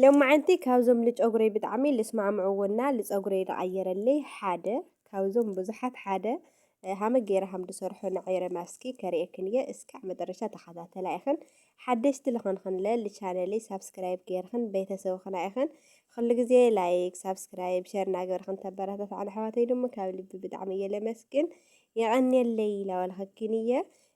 ሎማዓንቲ ካብዞም ልጨጉረይ ብጣዕሚ ልስማዕምዕዎ እና ልፀጉረይ ልቀይረለይ ሓደ ካብዞም ብዙሓት ሓደ ሃመ ገይረ ሃም ድሰርሖ ንዐይረ ማስኪ ከርእየክን እየ እስካዕ መጠረሻ ተኸታተላ ኢኽን ሓደሽቲ ልኸንኽንለ ልቻነለይ ሳብስክራይብ ገይርኽን ቤተሰብ ኽና ኢኽን ኹሉ ግዜ ላይክ ሳብስክራይብ ሸር እናገበርኽን ተበረታትዓን ኣሕዋተይ ድማ ካብ ልቢ ብጣዕሚ እየ ለመስግን የቐንየለይ ላበልኽኪን እየ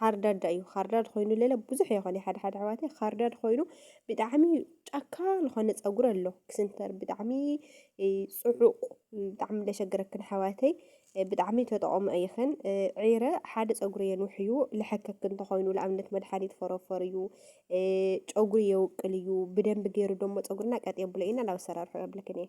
ኻርዳዳ እዩ ኻርዳድ ኾይኑ ለለ ብዙሕ እዮ ኸኒ ሓደ ሓደ ኣሕዋተይ ኻርዳድ ኾይኑ ብጣዕሚ ጫካ ዝኾነ ፀጉሪ ኣሎ ክስንተር ብጣዕሚ ፅዑቕ ብጣዕሚ ለሸግረክን ኣሕዋተይ ብጣዕሚ ተጠቐሙ ኣይኽን ዒረ ሓደ ፀጉሪ የንውሕ እዩ ልሐከክ እንተኾይኑ ንኣብነት መድሓኒት ፎሮፎር እዩ ጨጉሪ የውቅል እዩ ብደንቢ ገይሩ ደሞ ፀጉርና ቀጥ የብሎ ኢና ናብ ኣሰራርሑ የብልክን እየ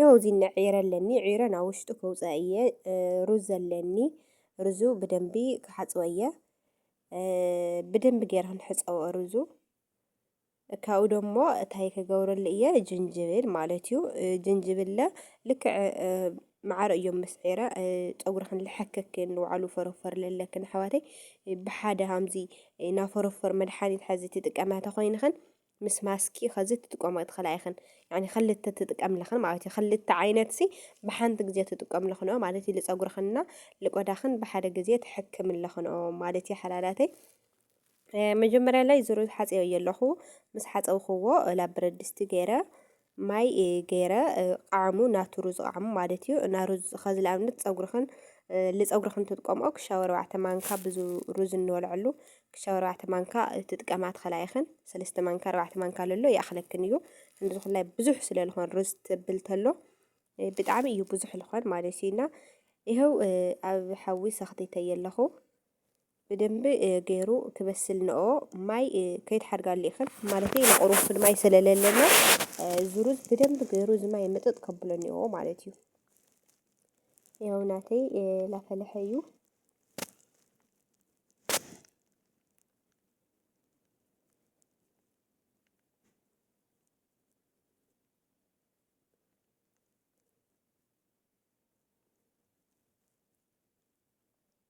ያው ዚነ ዒረ ኣለኒ ዒረ ናብ ውሽጡ ከውፅኣ እየ ሩዝ ኣለኒ ሩዙ ብደንቢ ክሓፅቦ እየ ብደንቢ ገይረ ክንሕፀቦ ሩዙ ካብኡ ደሞ እታይ ክገብረሉ እየ ጅንጅብል ማለት እዩ ጅንጅብለ ልክዕ መዓር እዮም ምስ ዒረ ፀጉርኽን ልሐክክን ንባዕሉ ፈረፈር ለለክን ኣሕዋተይ ብሓደ ሃምዚ ናፈረፈር መድሓኒት ሓዚ ትጥቀማ ተኾይንኽን ምስ ማስኪ ከዚ ትጥቀሞ ትኽእላ ኢኽን ያኒ ክልተ ትጥቀምልኽን ማለት እዩ ክልተ ዓይነት ሲ ብሓንቲ ግዜ ትጥቀምልኽን ኦ ማለት እዩ ልፀጉርኽንና ልቆዳኽን ብሓደ ግዜ ትሕክምልኽን ኦ ማለት እዩ ሓላላተይ መጀመርያ ላይ ዝሩ ሓፀዮ ኣለኹ ምስ ሓፀውክዎ ላብ ብረድስቲ ገይረ ማይ ገይረ ቃዕሙ ናቱ ሩዝ ቃዕሙ ማለት እዩ እና ሩዝ ኸዚ ልኣብነት ፀጉርኽን ልፀጉርኽን ትጥቀምኦ ክሻብ ኣርባዕተ ማንካ ብዙ ሩዝ እንበልዐሉ ክሻብ ኣርባዕተ ማንካ ትጥቀማ ትኽእላ ኢኽን ሰለስተ ማንካ ኣርባዕተ ማንካ ለሎ ይኣኽለክን እዩ እንዲ ዝኾላይ ብዙሕ ስለ ዝኾን ሩዝ ትብል ተሎ ብጣዕሚ እዩ ብዙሕ ዝኾን ማለት እዩ እና ይኸው ኣብ ሓዊ ሰኽቲተየ ኣለኹ ብደንቢ ገይሩ ክበስል ንኦ ማይ ከይትሓድጋሉ ኢኽን ማለት ኢና ቁሩብ ማይ ስለለለና ዙሩዝ ብደንቢ ገይሩ እዚ ማይ ምጥጥ ከብሎ ንኦ ማለት እዩ ያው ናተይ ላፈለሐ እዩ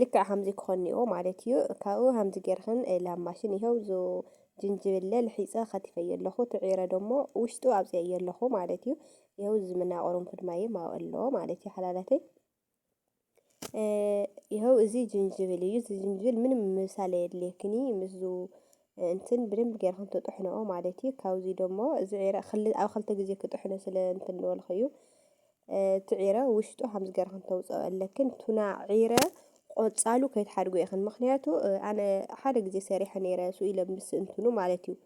ልክዕ ሃምዚ ክኾን ኔዎ ማለት እዩ ካብኡ ሃምዚ ጌርኽን ላብ ማሽን ይሄው ዞ ጅንጅብለ ልሒጸ ከቲፈዮ ኣለኹ ትዒረ ደሞ ውሽጡ ኣውጽኤዮ ኣለኹ ማለት እዩ ይሄው ዝምና ቁርንፉድ ማይ ማው ኣሎ ማለት እዩ ሓላላተይ ይኸው እዚ ጅንጅብል እዩ እዚ ጅንጅብል ምንም ምሳሌ የድልየክኒ ምስዙ እንትን ብደንብ ጌርካ እንትጥሕንኦ ማለት እዩ ካብዚ ደሞ እዚ ዒረ ክል ኣብ ክልተ ግዜ ክጥሕኖ ስለ እንትን ንበልኩ እዩ እቲ ዒረ ውሽጡ ከምዚ ጌርክን ተውፅኦ ኣለክን ቱና ዒረ ቆፃሉ ከይትሓድጎ ኢኽን ምክንያቱ ኣነ ሓደ ግዜ ሰሪሐ ነይረ ስኡ ኢለ ምስ እንትኑ ማለት እዩ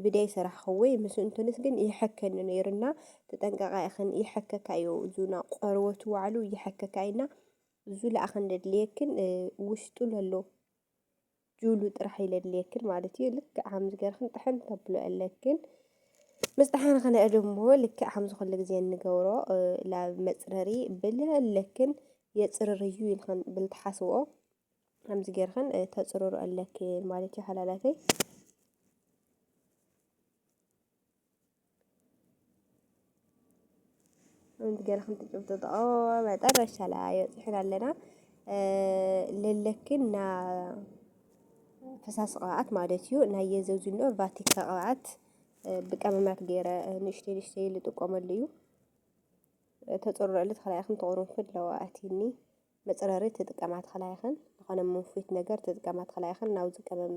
ብደይ ሰራሕኽወይ ምስ እንትንስ ግን ይሐከኒ ነይሩና ተጠንቀቃ ኢኽን ይሐከካ እዩ እዙና ቆርበቱ ዋዕሉ ይሐከካ እዩና እዙ ለኣኽን ደድልየክን ውሽጡ ለሎ ጁሉ ጥራሕ ይለድልየክን ማለት እዩ ልክዕ ከምዚ ገርክን ጥሕን ተብሎ ኣለክን ምስ ጥሓን ኸነአ ድሞ ልክዕ ከምዚ ኩሉ ግዜ እንገብሮ ላብ መፅረሪ ብል ኣለክን የፅርር እዩ ኢልክን ብል ትሓስብኦ ከምዚ ገርክን ተፅርሩ ኣለክን ማለት እዩ ሓላላተይ ገለኹም ትጭብጥጦ መጠረሻ ላይ በፅሕና ኣለና ልልክና ፈሳሲ ቅብኣት ማለት እዩ ናይ የዘዙኖ ቫቲካ ቅብኣት ብቀመማት ገይረ ንእሽተይ ንእሽተይ ልጥቀመሉ እዩ ተፅርረሉ ተኸላኢኹም ተቑሩንፍድ ለዋእቲኒ መጽረሪ ትጥቀማ ተክላይክን ንኮነ ምንፉት ነገር ትጥቀማ ተክላይክን ናውዚ ቀመም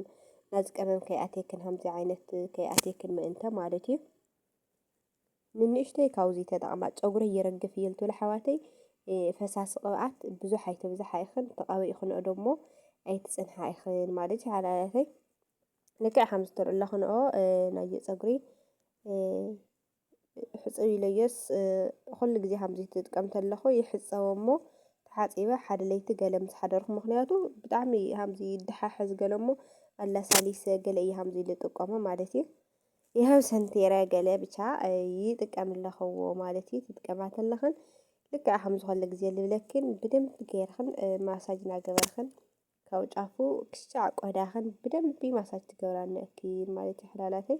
ናዚ ቀመም ከይኣቴክን ሃምዚ ዓይነት ከይኣቴክን ምእንተ ማለት እዩ ንንእሽተይ ካውዚ ተጠቕማ ፀጉረ ይረግፍ እየ ልትብል ኣሕዋተይ ፈሳሲ ቅብኣት ብዙሕ ኣይትብዝሓ ኢኽን ተቐቢእክንኦ ደሞ ኣይትፅንሓ ኢኽን ማለት እዩ ሓላላተይ ልክዕ ከም ዝትርእለኽንኦ ናይ ፀጉሪ ሕጽብ ኢለዮስ ኩሉ ግዜ ከምዚ ትጥቀም ተለኹ ይሕጸቦ እሞ ተሓጺበ ሓደ ለይቲ ገለ ምስ ሓደርኩ ምክንያቱ ብጣዕሚ ከምዚ ይደሓሕዝ ገለ እሞ ኣላሳሊሰ ገለ እየ ከምዚ ዝጥቀሞ ማለት እዩ ይኸው ሰንቴረ ገለ ብቻ ይጥቀም ኣለኽዎ ማለት እዩ ትጥቀማ ተለኽን ልክዕ ከም ዝኾነ ግዜ ልብለክን ብደንብ ገይርኽን ማሳጅ እናገበርኽን ካብ ጫፉ ክሻዕ ቆዳኽን ብደንቢ ማሳጅ ትገብራለክን ማለት እዩ ሕላላተይ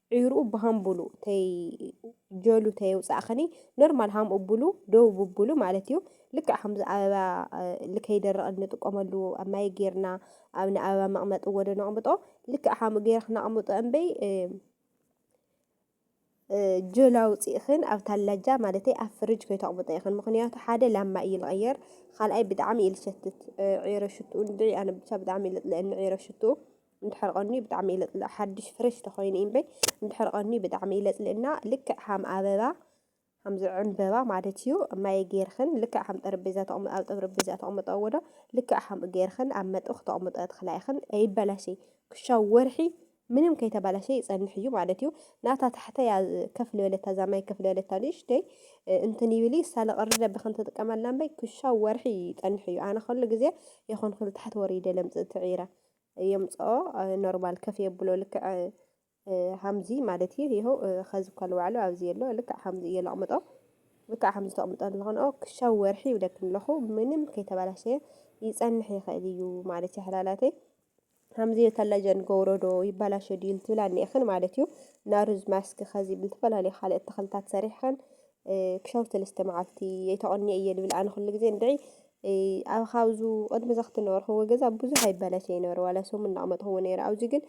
ዒሩኡ ብሃምቡሉ ተይ ጀሉ ተየውጻእኽኒ ኖርማል ሃምኡ ብሉ ደው ብብሉ ማለት እዩ ልክዕ ከምዚ ኣበባ ልከይደረቐ እንጥቀመሉ ኣብ ማይ ጌርና ኣብ ንኣበባ መቕመጢ ወደ ነቕምጦ ልክዕ ከምኡ ጌርክ ነቕምጦ እምበይ ጀል ኣውፂእኽን ኣብ ታላጃ ማለተይ ኣብ ፍርጅ ከይተቕምጦ ኢኽን ምክንያቱ ሓደ ላማ እዩ ልቐየር ካልኣይ ብጣዕሚ እዩ ልሸትት ዒረ ሽትኡ ንድዒ ኣነ ብቻ ብጣዕሚ እዩ ልጥልአኒ ዒረ ሽትኡ እንድሕር ቐንዩ ብጣዕሚ ይለጽልእ ሓድሽ ፍሬሽ ተኾይኑ እዩ እምበይ እንድሕር ቐንዩ ብጣዕሚ ይለጽልእ እና ልክዕ ሃም ኣበባ ሃምዚ ዕምበባ ማለት እዩ ማይ ጌርኽን ልክዕ ሃም ጠረጴዛ ተቕምጦ ኣብ ጠረጴዛ ተቕምጦ ወዶ ልክዕ ሃም ጌርኽን ኣብ መጥብኽ ተቕምጦ ትኽላ ኢኽን ኣይበላሸይ ክሻብ ወርሒ ምንም ከይተበላሸ ይጸንሕ እዩ ማለት እዩ ናታ ታሕተያ ከፍ ልበለታ እዛ ማይ ከፍ ልበለታ ንእሽተይ እንትን ይብል እዩ ሳለ ቐሪ ደብኽን ትጥቀመላ እምበይ ክሻብ ወርሒ ይጸንሕ እዩ ኣነ ኸሉ ግዜ የኾንኩ ታሕቲ ወሪደ ለምጽእ ትዒረ የምጽኦ ኖርማል ከፍ የብሎ ልክዕ ሃምዚ ማለት እዩ ይኸው ኸዚ እኳ ልባዕሉ ኣብዚ የሎ ልክዕ ሃምዚ እየ ለቕምጦ ልክዕ ሃምዚ ተቕምጦ ኣለኾንኦ ክሻብ ወርሒ ይብለክን ኣለኹ ምንም ከይተባላሸየ ይጸንሕ ይኽእል እዩ ማለት እዩ ሓላላተይ ሃምዚ ከላጀን ጎውሮዶ ይባላሸ ድዩ ልትብል ኣኒኤኽን ማለት እዩ ናሩዝ ማስክ ኸዚ ብልተፈላለዩ ካልኦት ተኽልታት ሰሪሕኽን ክሻው ሰለስተ መዓልቲ የተቐኒኦ እየ ልብል ኣነ ኩሉ ግዜ እንድዒ ኣብ ካብዙ ቅድሚ ዘኽቲ ነበርኹዎ ገዛ ብዙሕ ኣይበለሰ ይነሩ ዋላ ሰሙን እናቕመጥኹዎ ነይረ ኣብዚ ግን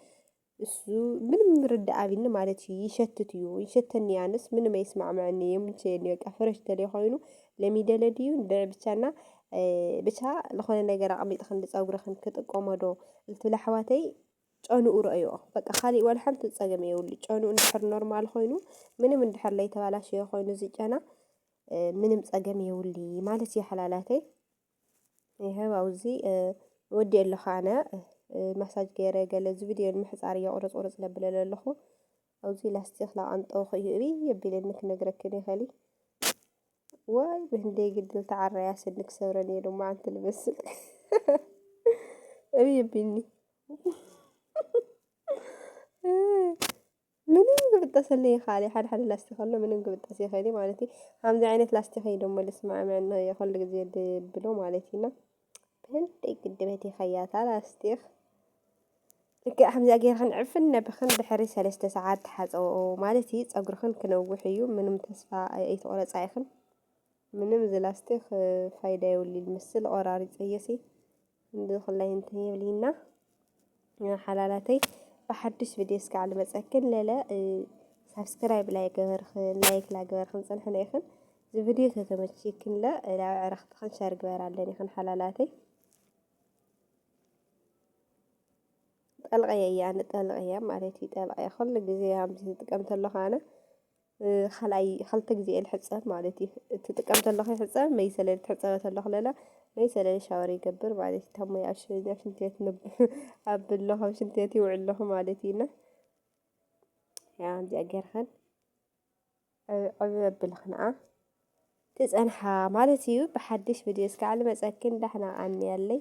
እሱ ምንም ርዳእ ኣብኒ ማለት እዩ ይሸትት እዩ ይሸተኒ ኣንስ ምንም ኣይስማዕምዐኒ የምልሸየኒ በቃ ፍረሽ ተለይ ኮይኑ ለሚደለ ድዩ ድዕ ብቻና ብቻ ዝኾነ ነገር ኣቕሚጥ ክንዲ ፀጉርኽን ክጥቀሞዶ ልትብል ኣሕዋተይ ጨንኡ ርእዮ በቃ ካሊእ ዋላ ሓንቲ ፀገም የብሉ ጨንኡ እንድሕር ኖርማል ኮይኑ ምንም እንድሕር ለይተባላሸየ ኮይኑ እዚ ጨና ምንም ጸገም የውሊ ማለት እዩ ሓላላተይ ይሀብ ኣውዚ ወዲ ኣለኹ ኣነ ማሳጅ ገይረ ገለ እዚ ቪድዮ ንምሕፃር እየ ቁርፅ ቁርፅ ለብለለ ኣለኹ ኣብዚ ላስቲክ ላቃንጠውኹ እዩ እብይ የቢለኒ ክነግረክን ይኸሊ ዋይ ብህንደ ግድል ተዓረያ ስንክ ሰብረን እየ ድማ ኣንቲ ልመስል እብይ የቢልኒ ምንም ክብጠሰለይ ይክኣል እዩ ሓደ ሓደ ላስቲክ ኣሎ ምንም ክብጠስ ይክእል እዩ ማለት እዩ ከምዚ ዓይነት ላስቲክ እዩ ደሞ ልስማዕምዕ ን ኩሉ ግዜ ድብሎ ማለት እዩ እና ብህልደይ ግድበት ይኸያታ ላስቲክ ልክዕ ከምዚኣ ጌርክን ዕፍን ነብኽን ድሕሪ ሰለስተ ሰዓት ተሓፀብኦ ማለት እዩ ፀጉርኽን ክነውሕ እዩ ምንም ተስፋ ኣይትቑረፃ ኢኽን ምንም ዝላስቲክ ፋይዳ የብሉን ምስል ቆራሪፀ እየሲ ብኩላይ እንትን የብልይና ሓላላተይ ብሓዱሽ ቪድዮ እስካዕ ልመፀክን ለለ ሳብስክራይብ ላይ ገበርኽን ላይክ ላይ ገበርኽን ፅንሕነ ይኽን እዚ ቪድዮ ተተመችይክን ለ ናብ ዕረኽትኽን ሸር ግበር ኣለኒ ይኽን ሓላላተይ ጠልቀየ እያ ንጠልቀየ ማለት እዩ ጠልቀየ ኩሉ ግዜ ከምዚ ዝጥቀም ተለኹ ኣነ ካልኣይ ኸልተ ግዜ እየ ልሕጸብ ማለት እዩ እትጥቀም ተለኹ ይሕጸብ መይሰለ ልትሕጸበ ተለኹ ለለ መይሰለ ሻወር ይገብር ማለት እዩ ታሞ ይኣሸኛ ሽንትቤት ኣብለኹ ኣብ ሽንትቤት ይውዕል ኣለኹ ማለት እዩና ያ እዚኣ ጌርኸን ዕብ ኣብልኽንኣ ትጸንሓ ማለት እዩ ብሓድሽ ቪድዮ እስካዕ ልመጸክን ዳሕና ኣንያለይ